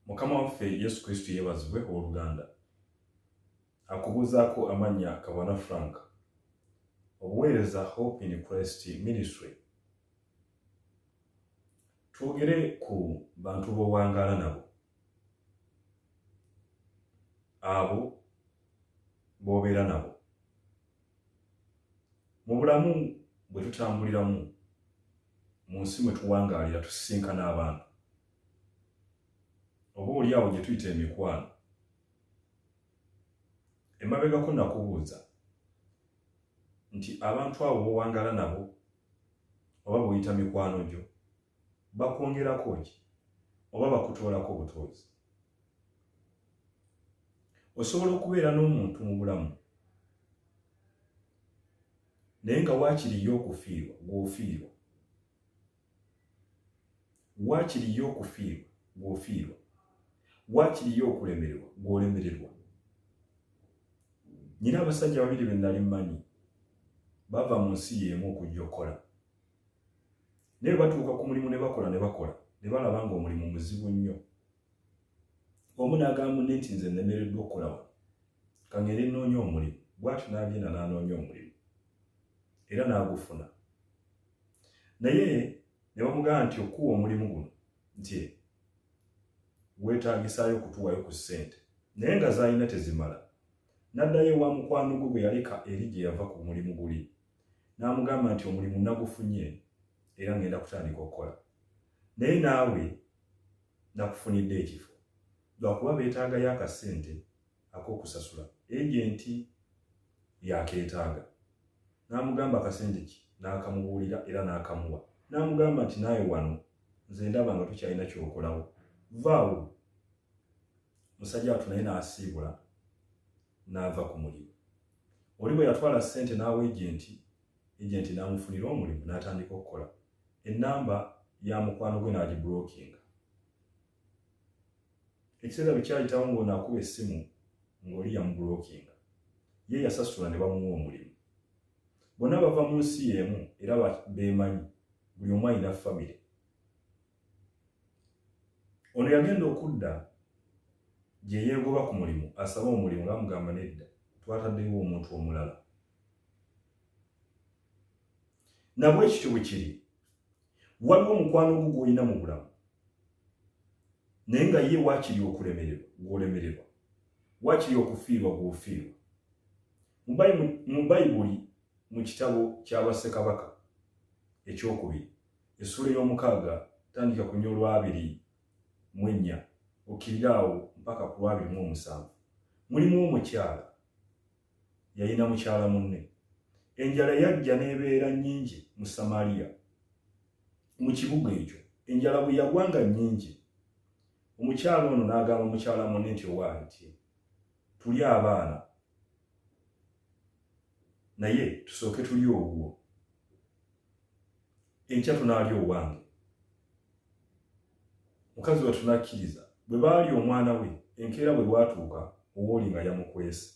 mukama waffe yesu kristo yeebazibwe ow'oluganda akubuuzaako amannya kabona frank obuweereza hope in christ ministry twogere ku bantu b'owangaala nabo abo b'obeera nabo mu bulamu bwe tutambuliramu mu nsi mwe tuwangaalira tusisinkana abantu oba oli awo gye tuyita emikwano emabegako nakubuuza nti abantu abo bowangala nabo oba buyita mikwano gyo bakwongerako ki oba bakutoolako butoozi osobola okubeera n'omuntu mu bulamu naye nga waakiriyo okufiirwa gw'ofiirwa waakiriyo okufiirwa gw'ofiirwa waakiriyo okulemererwa gw'olemererwa nyina abasajja babiri be nali mmanyi bava mu nsi y'emu okujja okukola naye batuuka ku mulimu ne bakola ne bakola ne balaba nga omulimu muzibu nnyo omu n'agamba munne nti nze nnemereddwa okukola wano kangere nnoonya omulimu bwatyo n'agenda n'anoonya omulimu era n'agufuna naye ne bamugamba nti okuwa omulimu guno nti weetaagisaayo okutuwayo ku ssente naye nga zaalina tezimala n'addayo ewa mukwano gwe gwe yaleka eri gye yava ku mulimu guli n'amugamba nti omulimu nagufunye era ngenda kutandika okukola naye naawe nakufunidde ekifo lwakuba beetaagayo akasente ak'okusasula egenti yakeetaaga n'amugamba akasente ki n'akamubuulira era n'akamuwa n'amugamba nti naawe wano nze ndaba nga tukyalina kyokolawo vaawo musajja watu naye n'asiibula n'ava ku mulimu oli bwe yatwala ssente n'awa ejenti ejenti n'amufunira omulimu n'atandika okukola ennamba ya mukwano gwe n'agibrokinga ekiseera bwe kyayitawo ng'ono akuba essimu ng'oli yamubrokinga ye yasasula ne bamuwa omulimu bonna bava mu nsi y'emu era beemanyi buli omu alina famire ono yagenda okudda gye yeegoba ku mulimu asaba omulimu nga mugamba nedda twataddewo omuntu omulala nabwe ekityo bwe kiri waliwo omukwano ogwo gwolina mu bulamu naye nga ye waakiri okulemererwa gwolemererwa waakiri okufiirwa gwofiirwa mu bayibuli mu kitabo ky'abassekabaka ekyokubiri essuula ey'omukaaga tandika ku nyolwa abiri mu ennya okkirira awo mpaka ku lwabiri mu omusanvu mulimu omukyala yalina mukyala munne enjala yajja n'ebeera nnyingi mu samaliya mu kibuga ekyo enjala bwe yagwanga nnyingi omukyala ono n'agamba mukyala munne nti owaali nti tuli abaana naye tusooke tuli ogwo enkya tunaali owange mukazi wattu n'akkiriza bwe baali omwana we enkeera bwe bwatuuka owooli nga yamukwese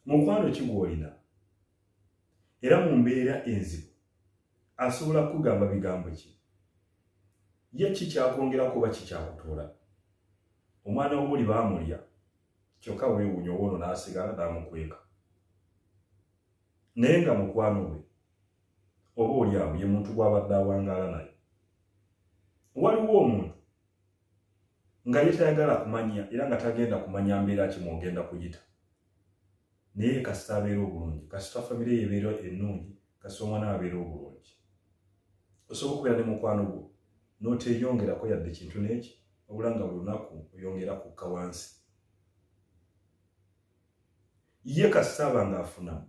mukwano ki gw'olina era mu mbeera enzibu asobola kukugamba bigambo ki ye ki kyakwongerako oba kikyakutuula omwana wooli baamulya kyokka weewuunya oba ono n'asigala n'amukweka naye nga mukwano we oba oli awo ye muntu gw'abadde awangaala naye waliwo omuntu nga ye tayagala kumanya era nga tagenda kumanya mbeera ki mwogenda kuyita naye kasita abeera obulungi kasita famire ye ebeera ennungi kasita omwana we abeera obulungi osobola okubeera ne mukwano gwo n'oteeyongerako yadde kintu n'eki wabula nga buli lunaku oyongera kukka wansi ye kasita aba ng'afunamu